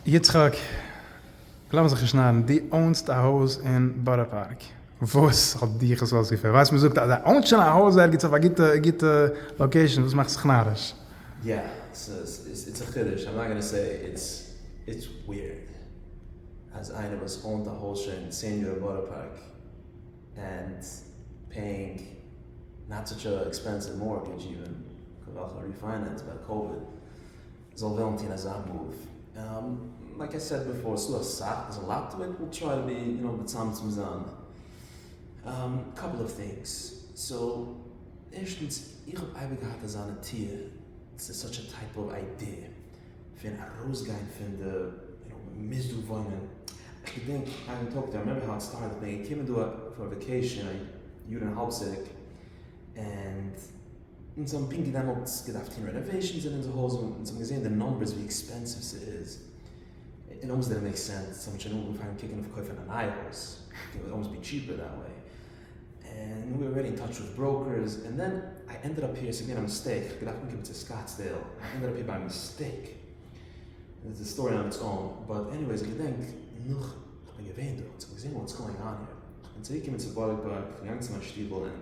יצחק, לאמיר זיך נישט נארן, דו אונסט א הויז אין בארא פארק, וואס האט דיך עס אויסגעפירט? ווייסט מען זאגט אז ער אוינט שוין א הויז ערגעץ אויף א גוטע גוטע לאקעישאן, וואס מאכסט זיך נאריש? יא, ס'איז א חידוש, איים נאט גאנא סעי איטס איטס וויערד אז איינער וואס אוינט א הויז שוין צען יאר אין בארא פארק ענד פעיאינג נאט סאטש א עקספענסיוו מארטגעדזש איווען כוועלכע ריפיינענס ביי קאוויד, זאל וועלן טון אזא מאוו. לייק איי סעד ביפאר, ס'דא אסאך וואס זאל לייטעוועט וויל טריי טו בי יו נאו מצמצם זיין קאפל אוו טינגס. סאו ערשטנס איך האב אייביג געהאט אזא נטיה, ס'איז סאטש א טייפ אוו איידיע פון ארויסגיין פון די יו נאו מ'מוז דא וואוינען. כ'געדענק איין טאג, דו רימעמבער האו איט סטארטעד, כ'בין געקומען דא פאר וואקעישאן א יאר און א האלב צוריק, ענד. אונז האבן פונקט דעמאלטס געדארפט טון רענאוועישאנס אין אונזער הויז, אונז האבן געזען די נומבערס ווי עקספענסיוו ס'איז, און אונז דידענט מעיק סענס, אונז האבן שוין אנגעפאנגען קוקן אויף קויפן א נייע הויז, קען ווען אלמאסט בי טשיפער דעט וועי, און וויר ארעדי אין טאטש וויט בראוקערס, און דען איי ענדעד אפ היר, ס'איז געווען א מיסטעיק, כ'האב געדארפט אנקומען צו סקאטסדעיל, איי ענדעד אפ היר ביי מיסטעיק, איטס א סטארי אן איטס און, באט עניוועיס כ'געדענק נאך כ'בין געווען דארט, כ'האב געזען וואטס גאוינג אן היר, כ'בין צוריק געקומען צו בארא פארק, כ'בין געגאנגען צו מיין שטיבל און.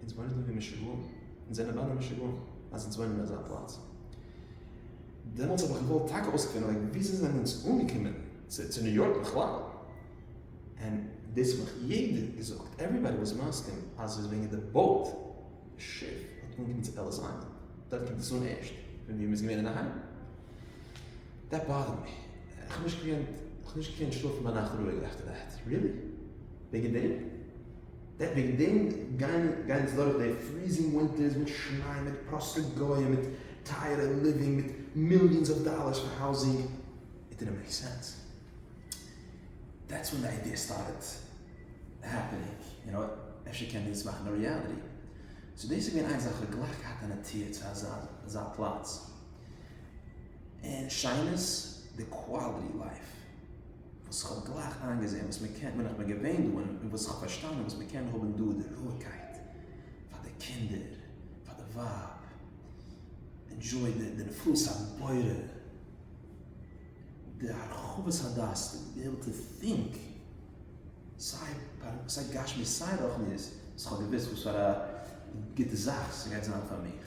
אונז וואוינען דא ווי משוגעים, אונז זענען ביידע משוגעים אז אונז וואוינען אין אזא פלאץ. דעמאלטס האב איך געוואלט טאקע אויסקלארן וויאזוי זענען אונז אנגעקומען צו ניו יארק בכלל, און דאס האט מיך יעדער געזאגט, עוועריבאדי וואס מסכים אז ס'איז וועגן די באוט, די שיף האט אנגעקומען צו עליס איילענד, דארט קומט עס אן ערשט, פון ווי מ'איז געווען אינדערהיים. דעט באדערד מי, איך האב נישט געקענט שלאפן ביינאכט רואיג עפטער דעט. ריעלי? וועגן דעם? וועגן דעם גייען גייען אונז דורך די פריזינג ווינטערס מיט שניי מיט פראסטע גוים מיט טייערע ליווינג מיט מיליאנס אויף דאלערס פאר האוזינג איט דידנט מעיק סענס דעטס ווען די איידיע סטארטעד העפענינג יו נאו אפשר קען מען דאס מאכן א ריעליטי סאו דאס איז געווען איינס אז כ'האב גלייך געהאט א נטייה צו אזא אזא פלאץ און שיינעס די קוואלעטי לייף. וואס איך האב גלייך איינגעזען וואס מען קען, בין איך בין געווען דא, און וואס איך האב פארשטאנען וואס מען קען האבן דא די רואיגקייט פאר די קינדער, פאר די ווייב, ענדזשוי די די נפלאות הבורא, די הרחבת הדעת, די וויל טו טינק, סיי פאר סיי גשמי סיי רוחניות, וואס איך האב געוואוסט וואס פאר א גוטע זאך ס'גייט זיין פאר מיך,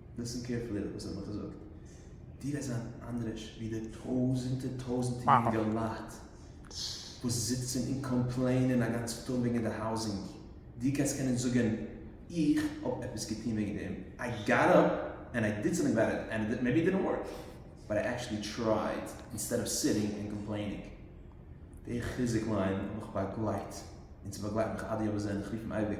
ליסטען קעירפולי וואס איך וועל דיר זאגן, דו וועסט זיין אנדרעש ווי די טויזענטער טויזענטער יונגעלייט וואס זיצען און קאמפלעינען א גאנצע טאג וועגען די האוזינג, דו גייסט קענען זאגען איך האב עפעס געטוהן וועגען דעם, איי גאט אפ ענד איי דיד סאמטינג אבאוט איט ענד מעיבי איט דידנט ווארק באט איי עקשעלי טרייד אינסטעד אוו סיטינג ענד קאמפלעינינג. די חיזוק ליין האב איך באגלייט און ס'באגלייט מיך עד יום הזה און איך רוף אים אייביג.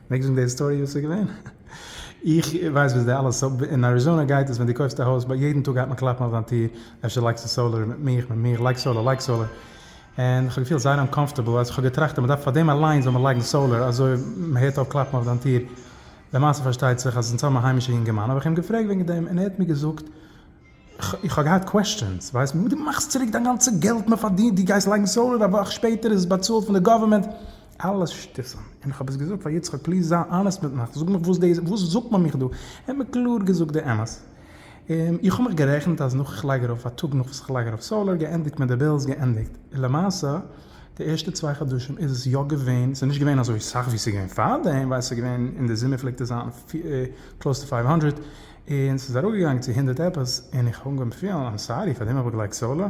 מעגסט זאגן די היסטאריע וואס איז געווען? איך ווייס וואס די אלע סא. אין אריזאנע גייט עס ווען די קויפסט א הויז ביי יעדן טאג גייט מען קלאפן אויף דיין טיר אפשר לייגסטו סאלער מיט מיך מיט מיך לייג סאלער לייג סאלער און איך האב געפילט זייער אנקאמפטעבל אז איך האב געטראכט אז מען דארף פאר דעם אליינס זאל מען לייגן סאלער אזוי מען הערט אויף קלאפן אויף דיין טיר למעשה פארשטייט זיך אז אונז האבן א היימישע יונגערמאן האב איך אים געפרעגט וועגן דעם און ער האט מיר געזאגט איך האב געהאט קוועסטשענס, ווייסט מען וואס דו מאכסט צוריק דיין גאנצע געלט מען פארדינט, דו גייסט לייגן סאולער א וואך שפעטער איז עס באצאלט פון די גאווערמענט, אלעס שטותים, און איך האב עס געזאגט פאר יצחק פליז זיי אנעסט מיט מיך, זאג מיך וואס זאגט מען מיך דא, ער האט מיר קלאר געזאגט די אמת, איך האב מיך גערעכנט אז נאך איך לייג ארויף א טאג נאך וואס איך לייג ארויף סאולער געענדיגט מיט די בילס געענדיגט, למעשה די ערשטע צוויי חדשים איז עס יא געווען, ס'איז נישט געווען אזוי סאך ווי ס'איז געווען פארדעם, ווייל ס'איז געווען אין די זומער פלעגט עס זיין קלאוס טו פייוו האנדרעט. און ס'איז אראפגעגאנגען צו הונדערט עפעס, און איך האב אנגעהויבן פילן איים סארי, פארדעם האב איך געלייגט סאלא,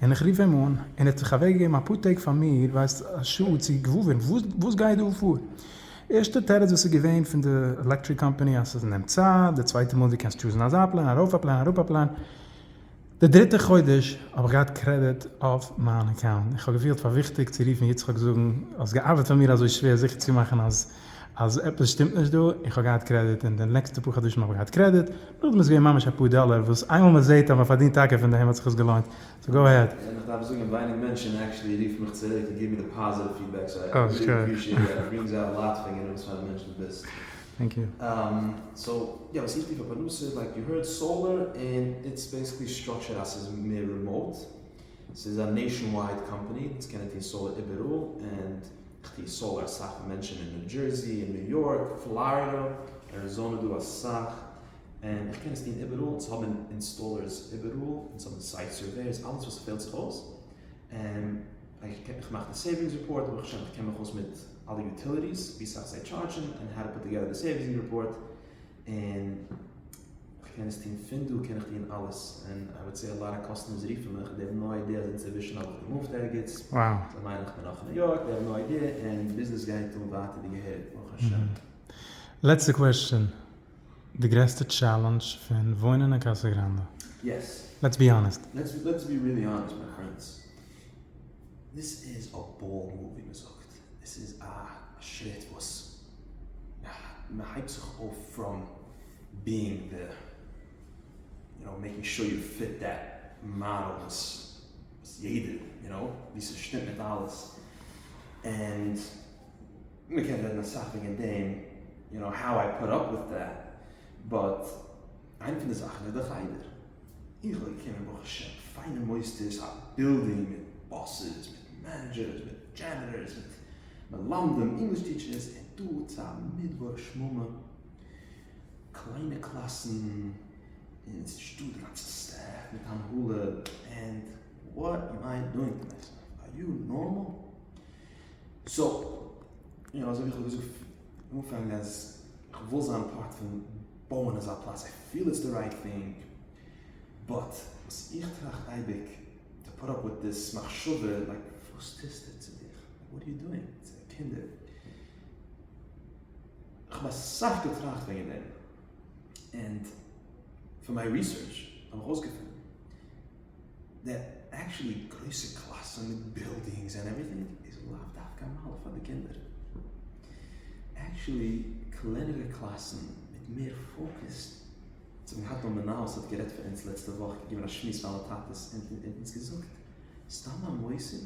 און איך רוף אים אן, און ער האט זיך אוועקגעגעבן אפאר טעג פאר מיר, ווייסט א שעה צו געוואויר וואס גייט דא פאר, ערשטע תירוץ וואס איז געווען פון די עלעקטריק קאמפאני אז ס'נעמט צייט, די צווייטע מאל דו קענסט טשוזן אזא פלען, ארויף א פלען, אראפ א פלען. די דריטע חודש האב איך געהאט קרעדיט אויף מיין אקאונט, איך האב געפילט פאר וויכטיג צו רופן יצחק זאגן, האסט געארבעט פאר מיר אזוי שווער זיכער צו מאכן אז אז עפעס שטימט נישט דא, איך האב געהאט קרעדיט און די נעקסטע פאר חדשים האב איך געהאט קרעדיט, נאכדעם איז געווען ממש אפאר דאלער וואס איינמאל מען זעהט אז מען פארדינט טאקע פון דעם האט זיך עס געלוינט, סאו גאו אהעד. און איך דארף זאגן ווייניג מענטשן עקשעלי רופן מיך צוריק און גיבן מיר די פאזיטיוו פידבעק, סאו איי ריעלי אפרישיעט דעט, איט ברינגס אוט א לאט פון גענוג וואספארא מענטש דו ביסט. טענק יו. אהמ סאו יא וואס איך טו פאר פרנסה לייק יו הערד סאולער און איטס בעסיקלי סטראקטשערד אז סאיז מער רימאוט סאיז א נעישאן ווייד קאמפעני אונז קענען טון סאולער איבעראל און איך טו סאולער אסאך פאר מענטשען און ניו דזשערסי און ניו יארק פלארידע אריזאנע דא אסאך און איך קען עס טון איבעראל אונז האבען אינסטאלערס איבעראל אונז האבען סייט סערווערס אלעס וואס ספעלט זיך אויס. איך מאך די סעיווינגס רעפארט ברוך השם איך קען מיך אויס מיט אלע יוטיליטיס ווי סאך זיי טשארדשען און האו טו פוט טאגעדער די סעיווינגס רעפארט און איך קען עס טון פון דא קען איך טון אלעס און איי וואד סעי א לאט אוו קאסטומערס רופן מיך דעי האב נאו איידיע אז אינצווישן האב איך געמופט ערגעץ זיי מיינען איך בין נאך אין ניו יארק דעי האב נאו איידיע און ביזנעס גייט אן ווייטער ווי געהעריג ברוך השם. לעצטע קוועסטשען. די גרעסטע טשעלענדזש פון וואוינען אין קאסא גראנדע? לעטס בי האנעסט. לעטס בי ריעלי האנעסט מיי פרענדס. דאס איז א באל מאל ווי מ'זאגט. עס איז א שריט וואס מ'הייבט זיך אויף פראם בינג די יו נאו מעקינג שור יו פיט דעט מאדעל וואס יעדער יו נאו ווי ס'שטימט מיט אלעס ענד. מען קען רעדן אסאך וועגן דעם יו נאו האו איי פאט אפ וויט דעט, באט איינע פון די זאכן איז די חדר, איך בין געקומען ברוך השם פיינע מוסדות, א בילדינג מיט באסעס, מיט מענעדזשערס, מיט דזשענעטארס, מיט מלמדים, ענגליש טיטשערס, און דא צו א מדבר שממה, קליינע קלאסן, און עס איז נישט דא די גאנצע סטעף מיט הנהלה, ענד וואט עם איי דואינג טו מיסעלף, אר יו נארמאל? סאו, יא, אזוי ווי איך האב געזאגט פון אנפאנג אז איך וויל זיין פארט פון בויען אזא פלאץ, איך פיל איטס די רייט טינג, באט וואס איך טראכט אייביג, טו פאט אפ וויט דיס מחשבה, לייק וואס טוסטו צו דיך, וואט אר יו דואינג צו די קינדער, כ'האב אסאך געטראכט וועגן דעם, ענד פון מיין ריסערטש האב איך אויסגעפונען. די עקטשעלי גרויסע קלאסן מיט בילדינגס ענד עווריטינג איז לאו דווקא א מעלה פאר די קינדער, עקטשעלי קלענערע קלאסן מיט מער פאוקעס, איך האב געהאט דא מנהל עס האט גערעדט פאר אונז לעצטע וואך געגעבן א שמועס פאר אלע טאטעס און אונז געזאגט סתם א מוסד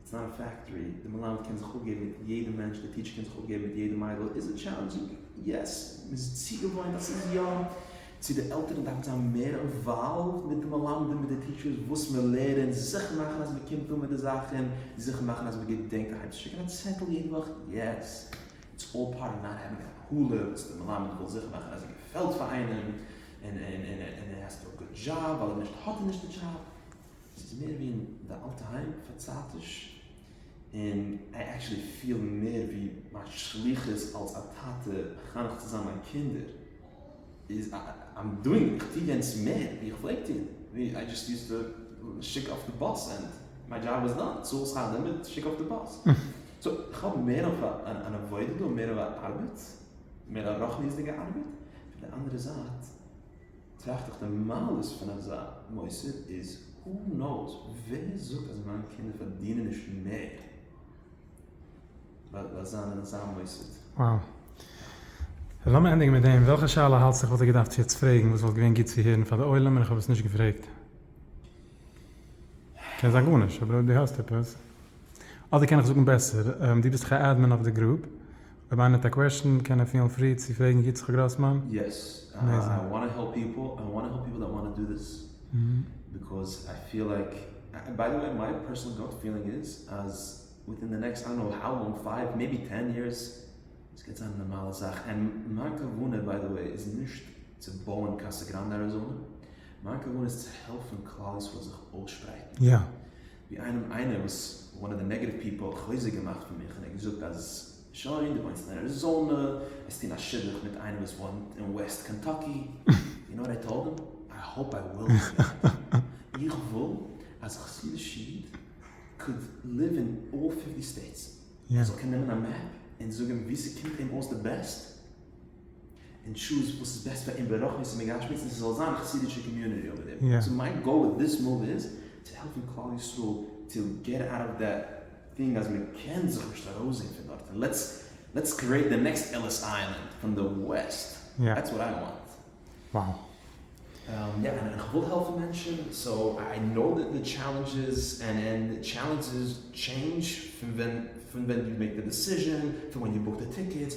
איטס נאט א פעקטארי, די מלמד קען זיך אפגעבן מיט יעדע מענטש, די טיטשער קען זיך אפגעבן מיט יעדע מיידל, איז איט טשעלענדזשינג? יעס, מען איז צוגעוואוינט אז ס'איז יא, צו די עלטערן דארפן זיין מער אינוואלווד מיט די מלמדים מיט די טיטשערס וואס מען לערענט, זיכער מאכן אז מען קומט אן מיט די זאכן, זיכער מאכן אז מען געדענקט אהיים צו שיקן א צעטל יעדע וואך, יעס, איטס אלל פארט אוו נאט העווינג א קאלער, וואס די מלמד וויל זיכער מאכן אז ער געפעלט פאר איינעם, און ער האס טו א גוד דזשאב, ווייל אויב נישט האט ער נישט די דזשאב. עס איז מער ווי אין די אלטע היים פארצייטיש, און איי עקשעלי פיל מער ווי מיין שליחות אלס א טאטע מחנך צו זיין מיין קינדער איז איים דואינג, איך טו יענץ מער ווי איך פלעג טון, ווי איי דזשאסט יוז די שיק אויף די באס ענד מיי דזשאב איז דאן, צאל שכר לימוד, שיק אויף די באס. סאו איך האב מער אויף אן עבודה דא, מער אויף א ארבעט, מער א רוחניות'דיגע ארבעט, פון די אנדערע זייט, טראכט איך די מעלות פון אזא מוסד איז הו נאוס ווער זאגט אז מיין קינדער פארדינען נישט מער ווייל זיי זיינען אין אזא מוסד. Wow. לאמיר ענדיגן מיט דעם, וועלכע שאלה האלטסטו איך וואלט דיר געדארפט יעצט פרעגן וואס וואלט געווען גוט צו הערן פאר די עולם און איך האב עס נישט געפרעגט? קען זיין גארנישט, אבער אויב דו האסט עפעס. אדער קען איך זאגן בעסער, דו ביסט דאך א admin אויף די גרופ. רבינו האט א קוועשן, קען ער פילן פרי צו פרעגן יצחק גראסמאן. יעס, איי וואנט טו העלפ פיפל, איי וואנט טו העלפ פיפל דעט וואנט טו דו דיס, ביקאוז איי פיל לייק, ביי די וועי מיי פערסענעל גאט פילינג איז אז וויטין די נעקסט איי דאנט נאו האו לאנג פייוו מעיבי טען יערס עס גייט זיין א נארמאלע זאך, ענד מיין כוונה ביי די וועי איז נישט צו בויען קאסא גראנדע אריזאנע, מיין כוונה איז צו העלפן כלל ישראל זיך אויסשפרייטן, ווי איינעם איינעמס וואן אוו די נעגעטיוו פיפעל האט חוזק געמאכט פון מיך און ער האט געזאגט אז שוין די וואוינסט אין אריזאנע וועסט טון א שידוך מיט איינער וואס וואוינט אין וועסט קענטאקי יו נאו וואט איי טאלד הים? איי האופ איי וויל נישט גיין איך וויל אז א חסידישע איד קען ליוו אין אלל פיפטי סטעיטס ער זאל קענען נעמען א מעפ און זאגן ווי ס'קומט אים אויס די בעסט. און טשוז וואס איז בעסט פאר אים ברוחניות און בגשמיות און ס'זאל זיין א חסידישע קאמיוניטי אויבער דעם, סאו מיין גאול וויט דיס מאוו איז צו העלפן כלל ישראל טו געט אוט אוו דעט טינג אז מען קען זיך נישט ארויסזעהן פון דארט און לעטס לעטס קריעט די נעקסט עליס איילענד פון די וועסט דעטס וואט איי וואנט. יא און איך וויל העלפן מענטשן סאו איי נאו די טשעלענדזשעס און און די טשעלענדזשעס טשעינדזש פון ווען פון ווען דו מעקט די דעסיזשען פון ווען דו בוקט די טיקעטס.